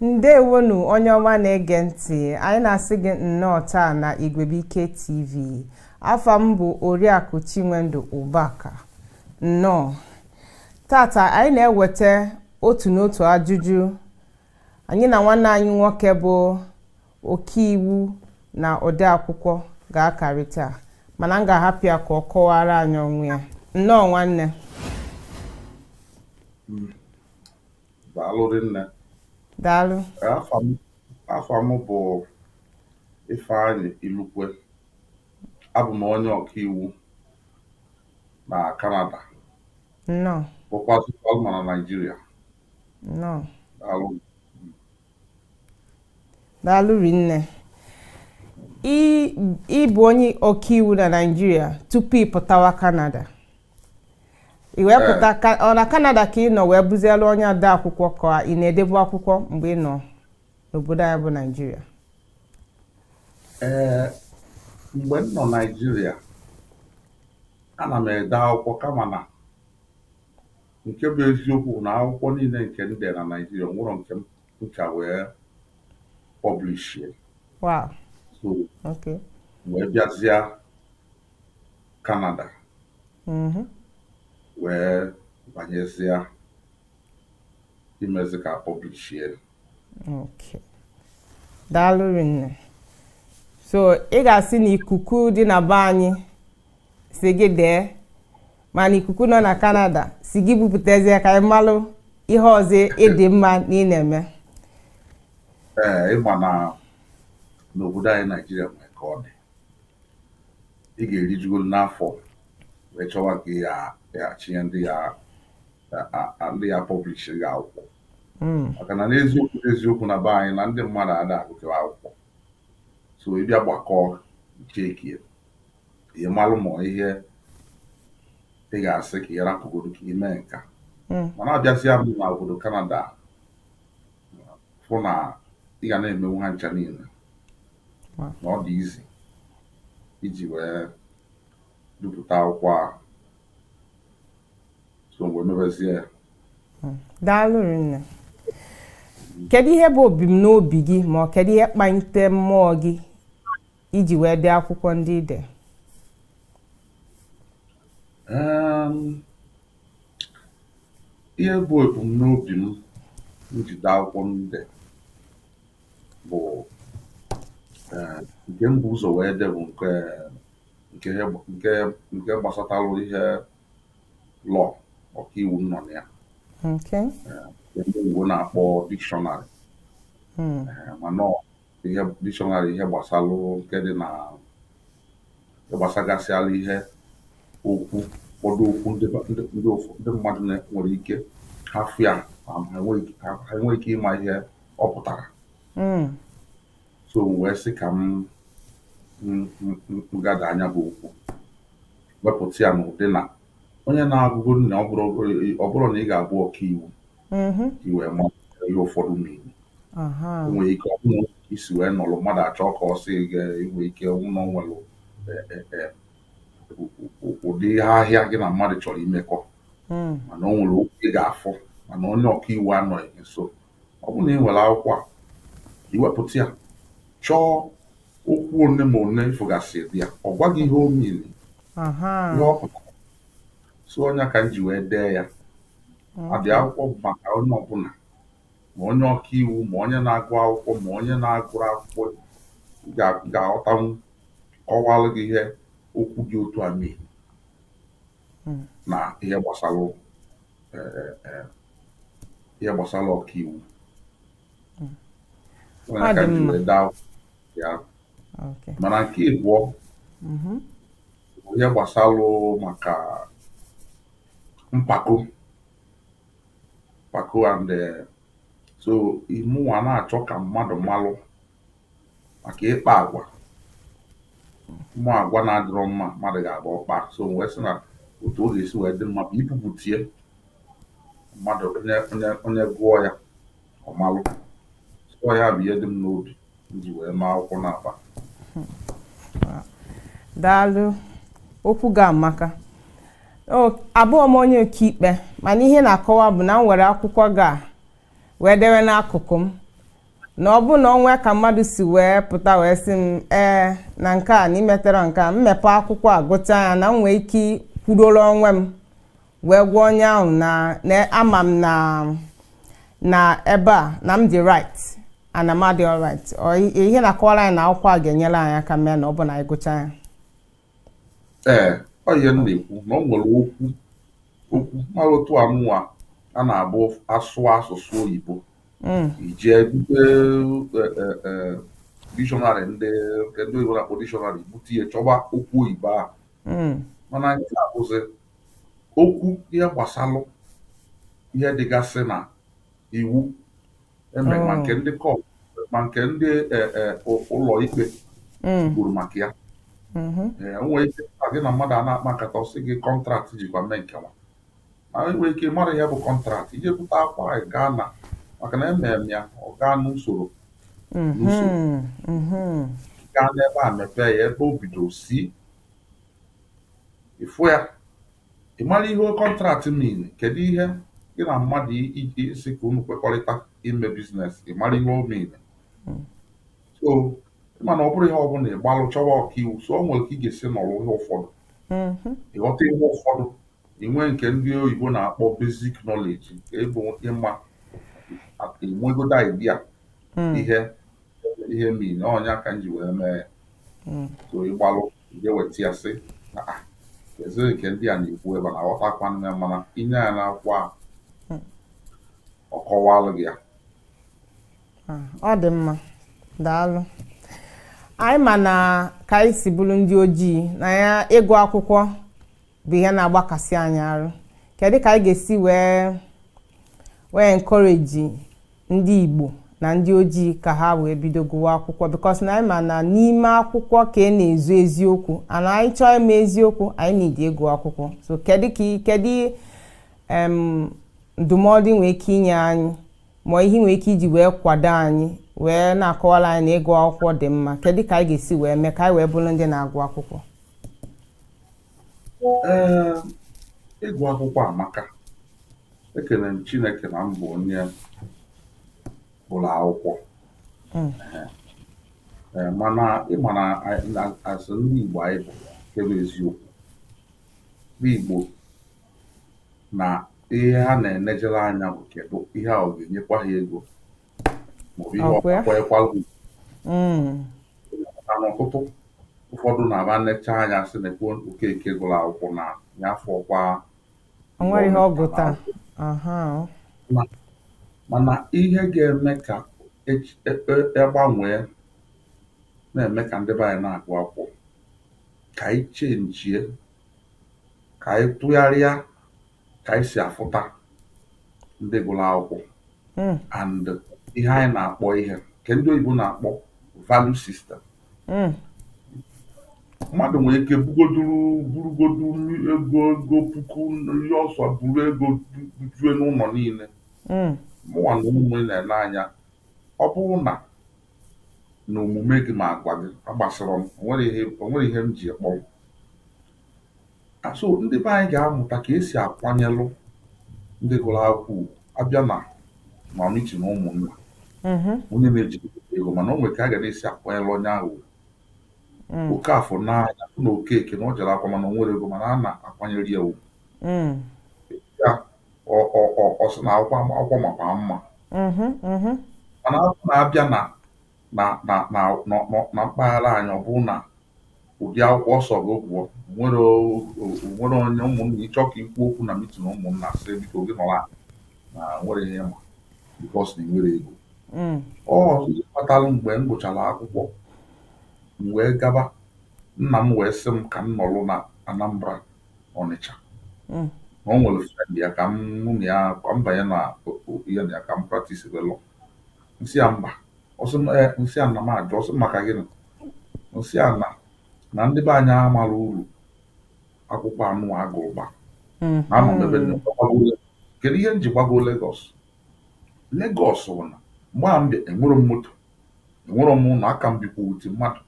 ndewonu onye ọma na-ege ntị anyị na-asị gị nnọọ taa na igwebuike tv afa m bụ oriakụ chinwendu ụbaka nnọọ tata anyị na-eweta otu n'otu ajụjụ anyị na nwanne anyị nwoke bụ ọkaiwu na odeakwụkwọ ga-akarịta mana m ga-ahapụ ya ka ọ kọwara anyị onwe ya nnọọ nwanne Daalụ rinne. Daalụ. Afa m afa m bụ Ifeanyị Ilukwe. Abụ m onye ọkaiwu na Kanada. Nnọọ. Bụkwazịlụ ma na Naịjirịa. Nnọọ. Daalụ. daalụ rinne ị bụ onye ọkaiwu na naijiria tupu ị pụtawa kanada ị wee pụta ọ na kanada ka ị nọ wee bụzielu onye ode akwụkwọ ka ị na-edebu akwụkwọ mgbe ị nọ n'obodo anyị bụ naijiria ee mgbe m nọ naijiria ana m ede akwụkwọ kama na Nke bụ eziokwu bụ na akwụkwọ niile nke m dere na Naịjirịa, enwerọ m chance wee pọblishie. Wow. So, okay. wee bịazịa Kanada. Mm -hmm. wee banyezie imezi ka pọblishie. Okay. Daalụ rinne. So ị ga-asị na ikuku dị na be anyị sị gị dee mana ikuku nọ na kanada sị gị bupụtazie ka anyị malụ ihe ọzọ ị dị mma na ị na-eme ee ị ma na n'obodo anyị naijiria nwere ka ọ dị ị ga-erijugolu n'afọ wee chọwa ka ya achịnye ndị ya ndị ya pọblish gị akwụkwọ hmm. maka na n'eziokwu eziokwu na be anyị na ndị mmadụ ada agụkewa akwụkwọ so ị bịa gbakọọ chekie ka ị malụ ma ihe ị ga-asị ka ị rapụgodu ka i mee nka mm. mana abịazịa m na obodo Kanada fụ na ị ga na-emenwu ha ncha niile na ọ dị easy iji wee depụta akwụkwọ ahụ so m wee mebezie ya mm. daalụ rinne kedu ihe bụ ebumnobi gị ma ọ kedu ihe kpalite mmụọ gị iji wee dee akwụkwọ ndị ide ehm, ihe bụ ebumnobi m ji dee akwụkwọ ndị bụ eh, nke m bu ụzọ wee dee bụ nke nke gbasatara ihe law ọkaiwu nọ na ya eh, ndị Igbo na-akpọ dictionary hmm. eh, mana ihe dictionary ihe gbasalụ nke dị na gbasagasịala ihe okwu ụfọdụ okwu ndị ndị mmadụ nwere ike ha fụ ya ha enweghị ike ịma ihe ọ pụtara hmm. so wee sị ka m gather nya bụ okwu wepụta ya n'ụdị na onye na-abụgodu na ọ bụrọ na ị ga-abụ ọkaiwu mm-hmm. i wee ma ihe ụfọdụ mean o nwere ike ọ bụrụ i si wee nọrọ mmadụ achọ ka ọ sị gị i nwee ike ọ bụ na o nwere e, e, e, ụdị ahịa gị na mmadụ chọrọ imekọ mm. mana o nwere okwu ị ga-afụ mana onye ọka iwu anọghị nso ọ bụrụ na ị nwere akwụkwọ a i wepụta ya chọọ okwu one by one ị fụgasị dị ya ọ gwa gị ihe ọ mean ihe ọ pụtara so ọ nya ka m ji wee dee ya ụdị akwụkwọ bụ maka onye ọbụna ma onye ọka iwu ma onye na-agụ akwụkwọ ma onye na-agụrọ akwụkwọ ga- ga-aghọtanwu kọwalụ gị ihe okwu dị otu a mean na ihe gbasara eh, eh, ihe gbasara ọka iwu Ọ nya Ọ ka dị m ji mma. wee dee ya Okay. mana nke ịbụọ Mhm. ihe gbasara maka mpako mpako and eh, so mụnwa na-achọ ka mmadụ malụ maka ịkpa agwa ụmụ agwa na-adịrọ mma mmadụ ga-abụ ọ kpaa so m wee sị na otu ọ ga-esi wee dị mma bụ ibupụta ya mmadụ onye onye onye gụọ ya ọ malụ ọ ya bụ ihe dị m n'obi m ji wee mee akwụkwọ na-akpa daalụ okwu gị amaka abụrọ m onye ọkaikpe mana ihe ị na-akọwa bụ na m were akwụkwọ gị a wee dewe n'akụkụ m na ọ bụ na o nwee ka mmadụ si wee pụta wee sị m ee na nke a na i metara nke a m mepee akwụkwọ a gụcha ya na m nwee ike kwuruoro onwe m wee gwa onye ahụ na na ama m na na ebe a na m dị right ana m adị alright Ọ i- ihe na-akọwara anyị na akwụkwọ a ga-enyere anyị aka mee na ọ bụ na anyị gụchaa ya ee ọ ihe m na-ekwu na ọ nwere okwu okwu mara otu anụnwa a na-abụ a sụọ asụsụ oyibo Mm, i jee bute dictionary ndị nke ndị oyibo na-akpọ dictionary bute ya chọba okwu oyibo ahụ mm, mana nke a bụzi okwu ihe gbasalụ ihe dịgasị na iwu eme ma nke ndị court ma nke ndị e, e, ụ- ụlọ ikpe kwuru maka ya Ee, o nwere ike na gị na mmadụ a na-akpa nkata ọ sị gị contract jikwa mee nke nwa ma e nwere ike mara ihe bụ contract i jee bute akwụkwọ anyị gaa na maka na emere m ya ọ gaa n'usoro n'usoro gaa n'ebe a mepee ya ebe o bido C ị fụ ya ị mara ihe contract mean kedu ihe gị na mmadụ iji isi ka unu kwekọrịta ime business ị mara ihe o mean so ị ma na ọ bụrọ ihe ọ bụla ị gbalụ chọwa ọkaiwu so o nwere ka ị ga-esi nọrọ ihe ụfọdụ ị ghọta ihe ụfọdụ i nwee nke ndị oyibo na-akpọ basic knowledge ịbụ ịma enwegodo idea ihe ihe mean ọ nya ka m ji wee mee ya so ị gbalụ jee weta ya sị na a ezere nke ndị a na-ekwu ebe na aghọta akwa nne mana inye ya na akwụkwọ a ọ kọwalụ gị ya ọ dị mma daalụ anyị ma na ka anyị si bụrụ ndị ojii na ya ịgụ akwụkwọ bụ ihe na-agbakasị anyị arụ kedu ka anyị ga-esi wee wee encourage ndị Igbo na ndị ojii ka ha wee bido gụwa akwụkwọ because na anyị ma na n'ime akwụkwọ ka e na-ezo eziokwu ana anyị chọọ ịma eziokwu anyị need ịgụ akwụkwọ so kedu ka kedu ndụmọdụ i nwee ike inye anyị ma ihe i nwee ike iji wee kwado anyị wee na-akọwara anyị na ịgụ akwụkwọ dị mma kedu ka anyị ga-esi wee mee ka anyị wee bụrụ ndị na-agụ akwụkwọ Ee, ịgụ akwụkwọ amaka. Ekele m Chineke na m bụ onye ụlọ akwụkwọ. Mm. Ee, mana ị ma na a- na- asị ndị Igbo anyị bụ nke bụ eziokwu. Ndị Igbo na ihe ha na-enejere anya bụ kedu ihe a ọ ga-enyekwa ha ego maọbụ ihe ọkwaekwalụ mm. na n'ọtụtụ ụfọdụ na-ama enecha anya sị nekwa Okeke gụrụ akwụkwọ na ya afọ kwa nwere ihe ọ gụta mana ihe ga-eme ka egbanwee e, e na-eme ka ndị be anyị na-agụ akwụkwọ ka anyị chenjie ka anyị tụgharịa ka anyị si afụta ndị gụrụ akwụkwọ hmm. and ihe anyị na-akpọ ihe nke ndị oyibo na-akpọ value system hmm. mmadụ nwere ike bugoduru burugodu ego ego puku ihe ọ sọ buru ego jue n'ụlọ niile hmm. mụnwa na ụmụ na-ele anya ọ bụrụ na na omume gị ma agwa gị amasịrọ m o nwerọ ihe m ji kpọrọ so ndị be anyị gà-amụ̀ta kà esì àkwanyelụ ndị gụrụ akwụkwọ ùgwù abịa nà mà mitin ụmụ̀nnà mm-hmm. onye na-eji ego mana o nwere ka a ga na-esi akwanyelụ onye ahụ mm. Okafọ na ya na Okeke na ọ jere akwụkwọ mana o nwerọ ego mana a na-akwanyere ya ugwu mm. ya ọ sị na akwụkwọ makwa mma mm-hmm, mm-hmm. mana abịa na nà nà nà nọ nọ na mpaghara anyị ọ bụrụ nà ụdị akwụkwọ ọ sọrọ gị gụọ, o nwere o o nwere onye ụmụnna ị chọọ ka i kwuo okwu na mitin ụmụnna sị biko gị nọrọ anị na o nwerọ ihe ị ma bikos na ị nwerọ ego ọ ihe kpatara mgbe m gụchara akwụkwọ m wee gaba nna m wee sị m ka m nọrọ na Anambra Ọnịcha na o nwere frend ya ka m mụ na ya ka m banye na o- o- ihe na ya ka m praktisibe lọọ m sị a mba ọ sị eh, m sị a na m ajụ ọ sị maka gịnị m sị a na na ndị be anyị amarọ uru akwụkwọ anụa a gụrụ ba hmm. na anọ m ebe kedu ihe m ji gbago Lagos Lagos bụ na mgbe a m bịa enwerọ m moto enwerọ m ụlọ aka m bikwute mmadụ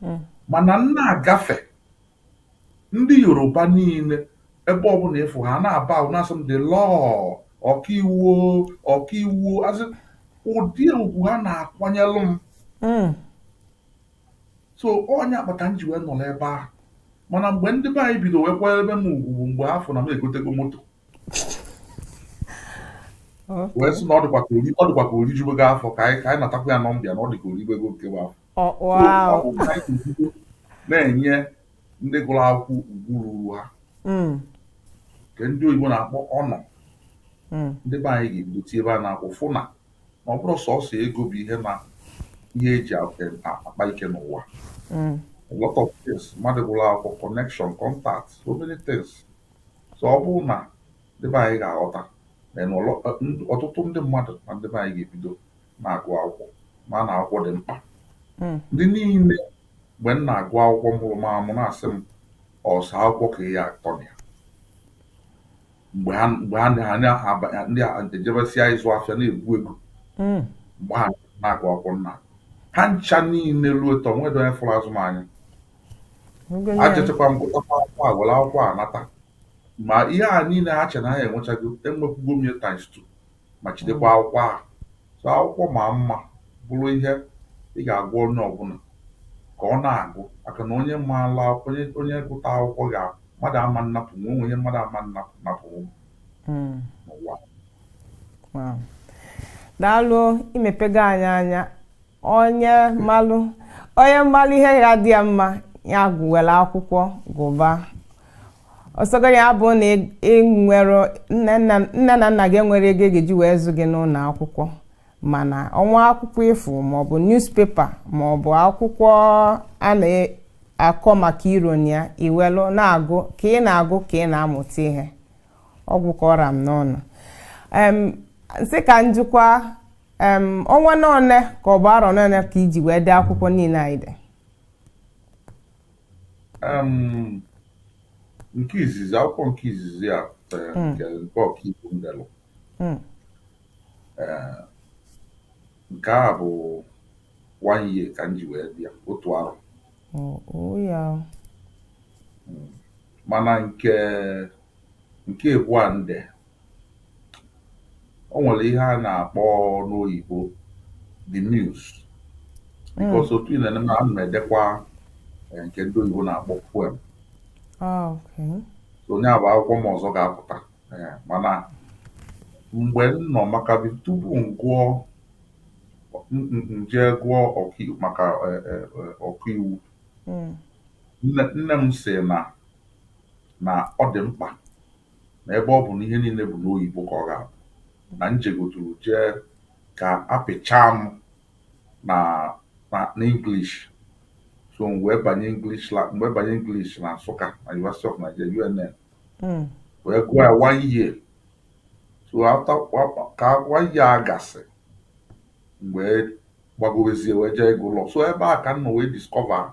hmm. mana m na-agafe ndị Yoruba niile ebe ọbụla ịfụ ha na-aba ahụ na-asị m dị lọọ ọkaiwu ọkaiwu asị ụdị ugwu ha na-akwanyelụ m hmm. so ọ nya kpata m ji wee nọrọ ebe ahụ mana mgbe ndị be anyị bido wee kwanyebe m ugwu bụ mgbe ha fụ na m egotego moto wee sị na ọ dịkwa ka o rijugo afọ ka anyị natakwa ya nọmba ya na ọ dị ka o ribego nke bụ afọ na-enye ndị gụrụ akwụkwọ ugwu ruru ha hmm. nke ndị oyibo na-akpọ honour hmm. ndị be anyị ga-ebido tiebe anya n'akwụkwọ fụ na ọ bụrọ sọsọ ego bụ ihe na ihe e ji akpa ike n'ụwa hmm. a lot of things mmadụ gụrụ akwụkwọ connection contact so many things so ọ bụrụ na ndị be anyị ga-aghọta na ọtụtụ ndị mmadụ na ndị be anyị ga-ebido na-agụ akwụkwọ ma na akwụkwọ dị mkpa hmm. ndị niile mgbe m na-agụ akwụkwọ mụrụ m amụ na-asị m ọ sọ akwụkwọ ka ị ya-atọ na ya mgbe ha ndị a ejebesịa ịzụ afịa na-egwu ego hmm. mgbe ha na-agụ akwụkwọ mana ha ncha niile ruo taa o nwerọ onye fụrụ azụ m anya ejechakwa m gụtakwa akwụkwọ a were akwụkwọ a nweta ma ihe a niile ha che na ha enwechago enwekwugo m times two ma jidekwa mm. akwụkwọ ahụ so akwụkwọ ma mma bụrụ ihe ị ga-agwa onye ọbụla ka ọ na-agụ maka na onye maala akwụkwọ onye gụta akwụkwọ ga mmadụ ama nnapụ nwe o nwe ihe mmadụ ama nnapụ napụ mm. n'ụwa daalụ i mepego anyị anya onye malụ onye malụ ihe ya-adị ya mma ya gụ were akwụkwọ gụba ọ sọgo ya bụ na i nwerọ nne na nna gị enwerọ ego ga-eji wee zụ gị n'ụlọ akwụkwọ mana o nwe akwụkwọ ị fụ maọbụ newspaper maọbụ akwụkwọ a na-akọ maka ironi ya i welụ na-agụ ka ị na-agụ ka ị na-amụta ihe ọ gwụ ka ọ ra m n'ọnụ m sị ka m jikwa ọnwa n'one ka ọ bụ arọ n'one ka i ji wee dee akwụkwọ niile a ị de nke izizi akwụkwọ nke izizi a pụtara hmm. nke ọkaiwu m delụ hmm. nke a bụ one year ka m ji wee dee ya otu arọ oh, oh, hmm. mana nke nke abụọ m de o nwere ihe a na-akpọ n'oyibo the muse because otu ihe m na-eme ana m edekwa eh, nke ndị oyibo na-akpọ poem Ah, okay. so ọ ya bụ akwụkwọ m ọzọ ga-apụta Eh, mana mgbe m nọ maka bi- tupu m gụọ m- m- m jee gụọ ọkaiwu maka eh, eh, eh, ọkaiwu Mm. nne nne m sị na na ọ dị mkpa na ebe ọ bụ na ihe niine bụ n'oyibo ka ọ ga-abụ na m jegoturu jee ka apịchaa m na na n'English so m wee banye English la m wee banye English na Nsụka na University of Nigeria UNN Mm. wee gụọ ya one year so after wa- ka one year a gasị m wee gbagowezie wee jee ịgụ law so ebe a ka m nọ wee discover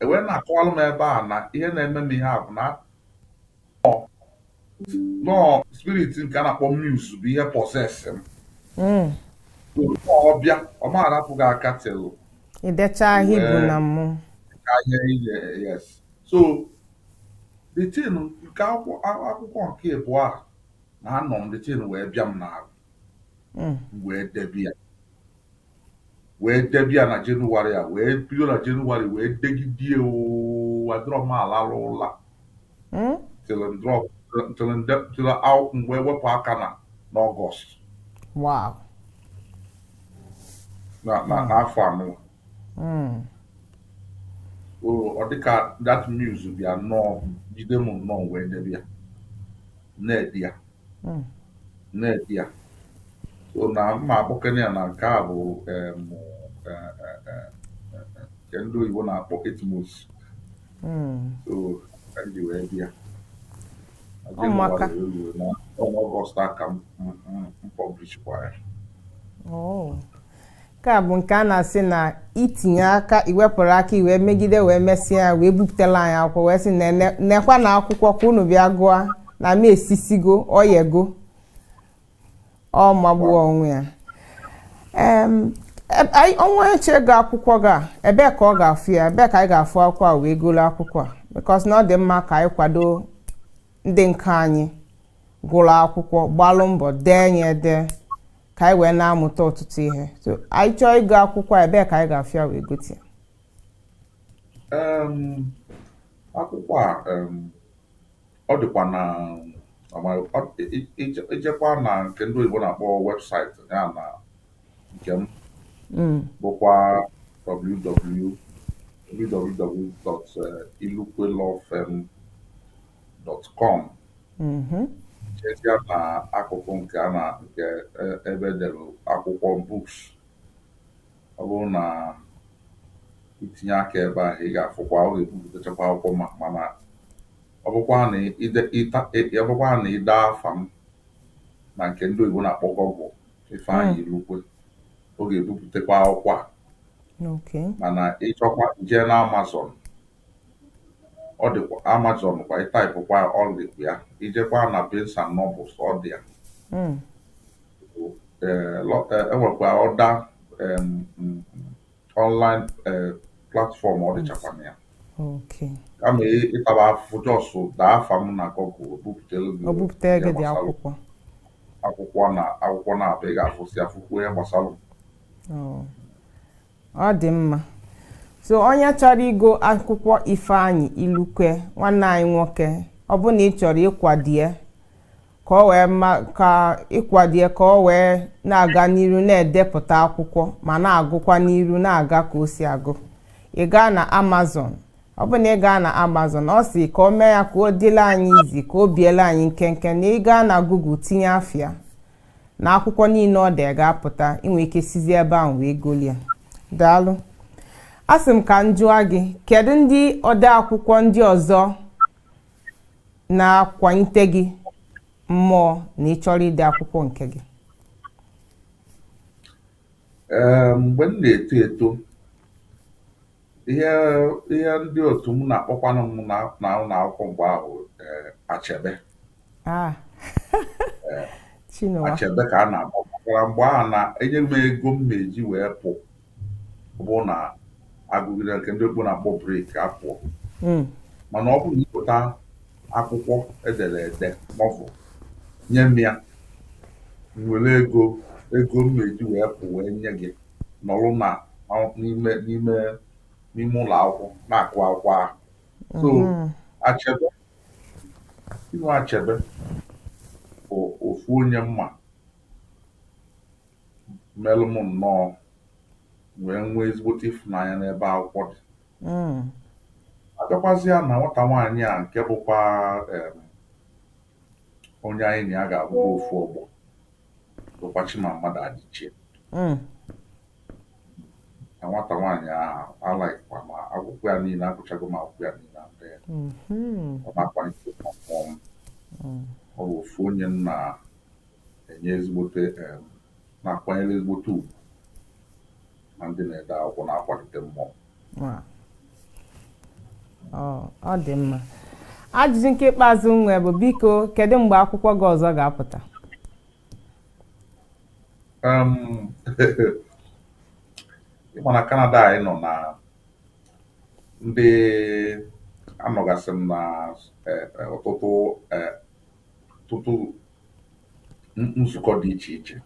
e wee na-akọwalụ m ebe a na ihe na-eme m ihe a bụ na nọọ spirit nke a na-akpọ muse bụ ihe possess m hmm. ọ bịa ọ ma arapụ gị aka till i dechaa ihe a i bu na mmụọ so the thing nke akwụkwọ nke ịbụọ a na anọ m the thing wee bịa m n'ahụ hmm. wee debe ya wee debe ya na January a wee bido na January wee degide oo adịrọ m alalụ ụla Hmm? till ndrọ till nde till aw- mgbe wepụ aka na n'August wow na na n'afọ a nọ Hmm. o ọ dịka that muse bịa nnọọ jide m nnọọ wee debe ya na-ede ya hmm. na-ede ya so na mma akpọkene ya na nke a bụ e, e, e, nke ndị oyibo na-akpọ eight months hmm. so ka m ji wee bịa n'August a ka m publishikwara ya oh. nke a bụ nke a na-asị na itinye aka iwepụrụ aka i wee megide wee mesịa ya wee bupụtala anyị akwụkwọ wee sị na ene- nekwa na akwụkwọ ka unu bịa gụọ na m esisigo o yego ọ magbuo onwe ya Em, e- anyị- onye chọọ igo akwụkwọ gị a ebee ka ọ ga-afụ ya ebee ka anyị ga-afụ akwụkwọ a wee golo akwụkwọ a because na ọ dị mma ka anyị kwado ndị nke anyị gụlụ akwụkwọ gbalụ mbọ dee ya ede ka anyị wee na-amụta ọtụtụ ihe so anyị chọọ ịgụ akwụkwọ a ebee ka anyị ga-afụ ya wee gote Em, akwụkwọ a em, ọ dịkwa na ọ- ọ- i- i- ijekwa na nke ndị oyibo na-akpọ website ya na nke m Mm, bụkwa www.ilukwelawfirm .com mm-hmm. jezie na akụkụ nke a na nke e, ebe dere akwụkwọ books ọ bụrụ na i tinye aka ebe ahụ ị ga-afụkwa ọ ga-ebupụtachakwa akwụkwọ m a mana ọ bụkwa na i dee afa m na nke ndị oyibo na-akpọ Google Ifeanyị hmm. Ilukwe ọ ga-ebupụtakwa akwụkwọ a mana ị chọkwaa jee na Amazon ọ dịkwa amazon kwa ị taịpụ kwa ọ dịkwa ya ijekwa na barnes and nobles ọ dị ya Mm. Eh, lo- eh, enwekwa other em, mm, online eh, platform ọ dịchakwa na ya Okay. kama ị- ịtaba afụfụ just dee afa m na google ọ bupụtelu gị Ọ bupụtara ihe gị dị gbasara akwụkwọ. akwụkwọ na akwụkwọ naabọ a ị ga-afụsị afụkwuo ihe gbasara m. Oh. ọ dị mma so onye chọrọ igo akwụkwọ ifeanyị ilukwe nwanne anyị nwoke ọ bụ na ị chọrọ ịkwado ya ka ọ wee ka ị kwado ya ka ọ wee na-aga n'iru na-edepụta akwụkwọ ma na-agụkwa n'iru na-aga ka o si agụ ị gaa na amazon ọ bụ na ị gaa na amazon ọ sị ka o mee ya ka ọ dịla anyị easy ka o biela anyị nkenke na ị gaa na google tinye afa ya na akwụkwọ niile o dee ga-apụta i nwee ike sizi ebe ahụ wee golie daalụ a sị m ka m jụọ gị kedu ndị ode akwụkwọ ndị ọzọ na-akwalite gị mmụọ na ị chọrọ ide akwụkwọ nke gị mgbe m na-eto eto Ihe ihe ndị otu m na-akpọkwanụ m na na ụlọ akwụkwọ mgbe ahụ eh, achebe Ah. Eh. Chinua. achebe ka a na-akpọ maka na mgbe ahụ na enye m ego m na-eji wee pụ ọ bụrụ na agụgide nke ndị igbo na-akpọ break apụọ Mm. mana ọ bụrụ na i bute akwụkwọ edere ede novel nye m ya m were ego ego m na-eji wee pụ wee nye gị nọrụ na n'ime n'ime n'ime ụlọ akwụkwọ na-agụ akwụkwọ ahụ so mm-hmm. achebe chinua achebe bụ ofu onye m ma melụ m nnọọ wee nwee ezigbote ịfụnanya n'ebe akwụkwọ dị mm. a bịakwazịa na nwata nwaanyị a nke bụkwa onye anyị na ya ga-abụkwa ofu ọgbọ bụkwa Chimamanda Adichie mm. na nwata nwaanyị ahụ alikekwa m akwụkwọ ya niile agụchago m akwụkwọ ya niile ndị ya mm-hmm. ọ na-akwalite mmụọ m mm. ọ bụ ofu onye m na-enye ezigbote na-akwanyere ezigbote ugwu na ndị na-ede akwụkwọ na-akwalite m mmụọ ọ dị mma ajụjụ nke ikpeazụ m nwe bụ biko kedu mgbe akwụkwọ gị ọzọ ga-apụta ị ma na Kanada anyị nọ na ndị anọgasị m na eh, eh, ọtụtụ eh, ọtụtụ nzukọ dị iche iche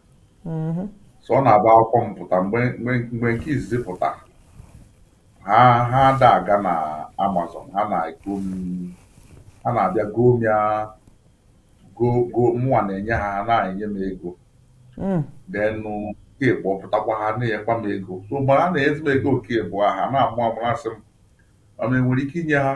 mm-hmm. so ọ na-abụ akwụkwọ m pụta mgbe nke izizi pụta ha ha ada aga na amazon ha na-ego ha na-abịa goo m ya goo mụnwa na-enye ha ha na-enye m ego mm. then nke ịbụọ pụtakwa ha na-enyekwa m ego so mgbe ha na-enyezi m ego nke ịbụa ha na-amụ amụ asị m ma enwere ike inye ha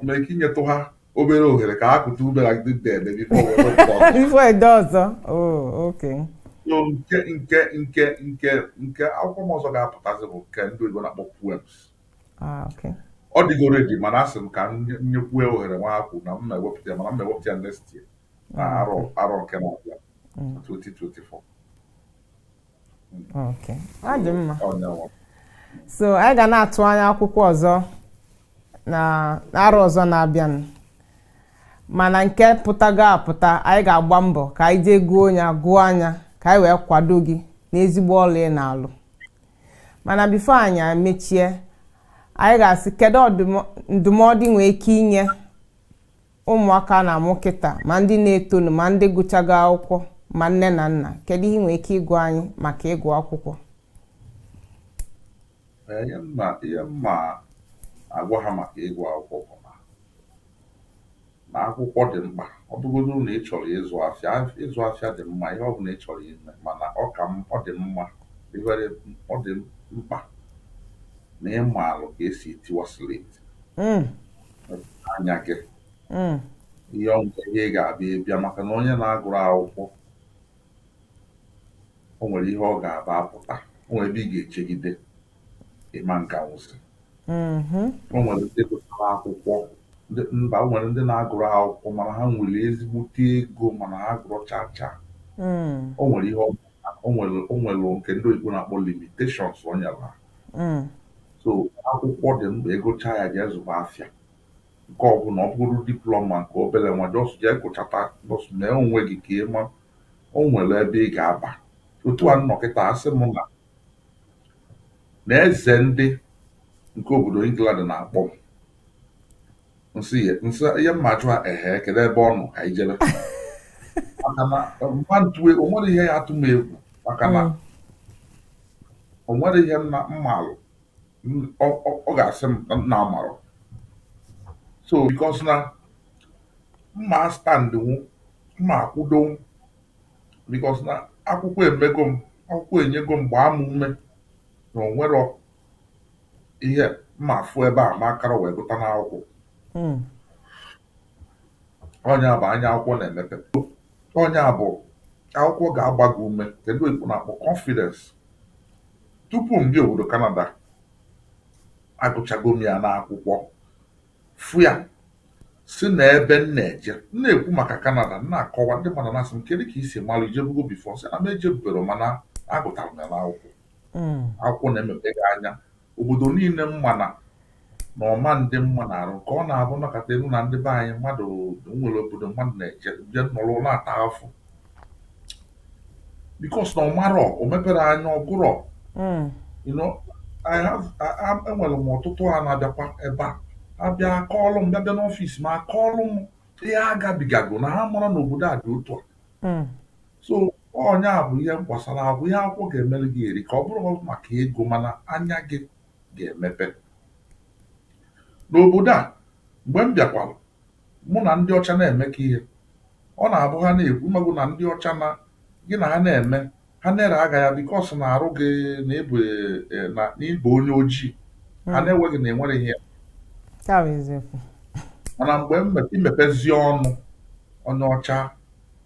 ma ike inyetụ ha obere ohere ka ha kuta ume like this day maybe before we were born. Before I do ọzọ. Oh, okay. So nke nke nke nke nke akwụkwọ m ọzọ ga-apụtazi bụ nke ndị oyibo na-akpọ poems. Ah, okay. Ọ dịgo ready mana asị m ka m nye- nyekwue ohere nwa akwụ na mma ewepụta ya mana mma ewepụta ya next year na arọ arọ nke na-abịa na 2024. Okay. Ọ dị mma. Ọnyanwa. so anyị ga na-atụ anya akwụkwọ ọzọ na n'arọ ọzọ na-abịanụ mana nke pụtago apụta anyị ga-agba mbọ ka anyị jee goo ya gụọ ya ka anyị wee kwado gị n'ezigbo ọlụ ị na-alụ mana before anyị emechie anyị ga-asị kedu ọdụmọ- ndụmọdụ ị nwee ike inye ụmụaka a na-amụ kịta ma ndị na-etonu ma ndị gụchago akwụkwọ ma nne na nna kedu ihe ị nwere ike ịgwa anyị maka ịgụ akwụkwọ ihe mma agwa ha maka ịgụ akwụkwọ bụ na na akwụkwọ dị mkpa ọ bụgodị na ị chọrọ ịzụ afịa ịzụ afịa dị mma ihe ọ bụla ị chọrọ ime mana ọ ka ọ dị mma ọ dị mkpa na ị maalụ ka esi etiwa slate hmm. anya gị hmm. ihe ọmụta ihe ị ga-abịa ịbịa maka na onye na-agụrọ akwụkwọ o nwere ihe ọ ga-aba apụta o nwere ebe ị ga-ejegide ị ma aganwuzi mm-hmm. o nwere ndị gụtara akwụkwọ mba o nwere ndị na-agụrọ akwụkwọ mana ha nwere ezigbote ego mana ha agụrọ chacha hmm. o nwere ihe o nwere nke ndị oyibo na-akpọ limitations o nyere ha mm. so akwụkwọ dị mkpa ịgụcha ya jee zụba afịa nke ọbụna ọ bụrụ diploma nke obere nwa just jee gụchata bọs mee onwe gị ka ị ma o nwere ebe ị ga-aba otu a m nọ kịta asị m na na eze ndị nke obodo England na-akpọ m m sị ya m sị ihe mma ajụ ha ehe kedu ebe ọ nọ ka anyị jebe maka na mma ntue o nwerọ ihe ya-atụ m egwu maka na o nwere ihe m na- m maalụ m- ọ ọ- ọ ga-asị m na m na-amarọ so because na mma astandnwu mma akwụdonwu because na akwụkwọ emego m akwụkwọ enyego m gbaa m ume na o nwerọ ihe mma afụ ebe a m akarọ wee gụta n'akwụkwọ ọ nya bụ anya akwụkwọ na-emepe ọ nya bụ akwụkwọ ga-agba gị ume ke ndị oyibo na-akpọ confidence tupu m bịa obodo Canada agụchago m ya n'akwụkwọ fụ ya si na ebe m na-eje m na-ekwu maka Canada m na-akọwa ndị mmadụ na-asị m kedu ka i si malụ i jebugo before sị na m ejebubero mana agụtara m ya n'akwụkwọ akwụkwọ na-emepe gị anya Obodo niile m ma na na ọma ndị mma na-arụ nke ọ na-abụ nakọta elu na ndị be anyị mmadụ nwere obodo mmadụ na-eje bịa nọrọ na-ata afụfụ because na ọ marọ o meperọ anya ọ gụrọ hmm. enwere m ọtụtụ ha na-abịakwa ebe a abịa akọọlụ m bịa bịa n'office m akọọlụ m ihe ha gabigago na ha mara na obodo a dị otu a hmm. so ọ nya bụ ihe gbasara akwụkwọ ihe akwụkwọ ga-emere gị erika ọ bụrọ maka ego mana anya gị ga-emepe n'obodo a mgbe m bịakwara mụ na ndị ọcha na-emekọ ihe ọ na-abụ ha na-ekwu ị mago na ndị ọcha na gị na ha na-eme ha na-eneli gị anya because na arụ gị na ị bụ eh, na na ị bụ onye ojii ha hmm. na-enweghị na enwere ihe That is it. mana mgbe i mepezi ọnụ onye ọcha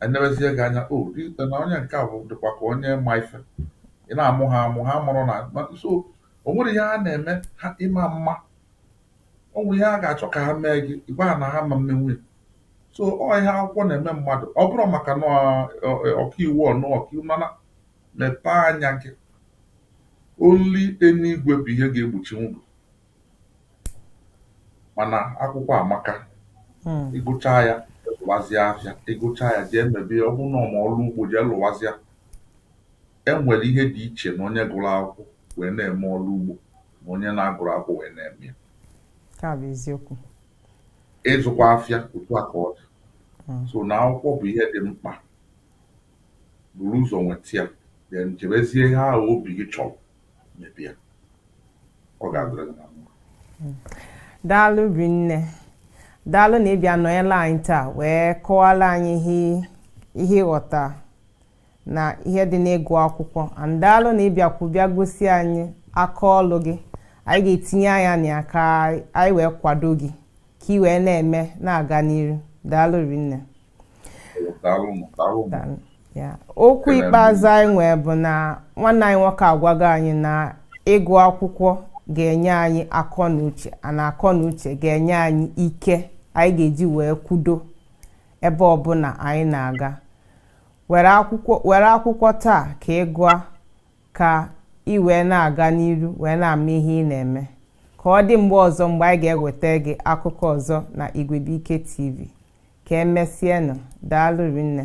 enebezie gị anya o oh, na onye nke a bụ dịkwa ka onye ma ife ị na-amụ ha amụ ha mụrụ na so o nwere ihe ha na-eme ha ịma mma o nwere ihe ha ga-achọ ka ha mee gị ị gwa ha na ha ama emenwu ya so ọ ihe akwụkwọ na-eme mmadụ ọ bụrọ maka na ọkaiwu ọnụ ọkaiwu mana mepee anya gị only eluigwe bụ ihe ga-egbochinwu gị mana akwụkwọ amaka hmm. ị gụcha ya zụwazịa afịa ị gụcha ya jee mebe ọ bụrụ na ọ ma ọrụ ugbo jee lụwazịa e nwere ihe dị iche na onye gụrụ akwụkwọ wee na-eme ọrụ ugbo na onye na-agụrọ akwụkwọ wee na-eme ya ịzụkwa afịa otu a ka ọ dị hmm. so na akwụkwọ bụ ihe dị mkpa buru ụzọ nweta ya then chebezie ihe ahụ obi gị chọrọ mebe ya ọ ga-adịrị gị na mma daalụ rinne daalụ na ịbịa nọnyela anyị taa wee kọwara anyị ihe ihe ị ghọta na ihe dị n'ịgụ akwụkwọ and daalụ na ịbịakwu bịa gosi anyị aka ọlụ gị anyị ga-etinye anya na ya ka anyị wee kwado gị ka ị wee na-eme na-aga n'iru daalụ rinne okwu ikpeazụ anyị nwee bụ na nwanne anyị nwoke agwago anyị na ịgụ akwụkwọ ga-enye anyị akọ na uche na akọ na uche ga-enye anyị ike anyị ga-eji wee kwudo ebe ọbụla anyị na-aga were akwụkwọ taa ka ị gụọ ka ị wee na-aga n'iru wee na-ama ihe ị na-eme ka ọ dị mgbe ọzọ mgbe anyị ga-eweta gị akụkọ ọzọ na Igwebuike TV Ka emesịanụ. Daalụ rinne.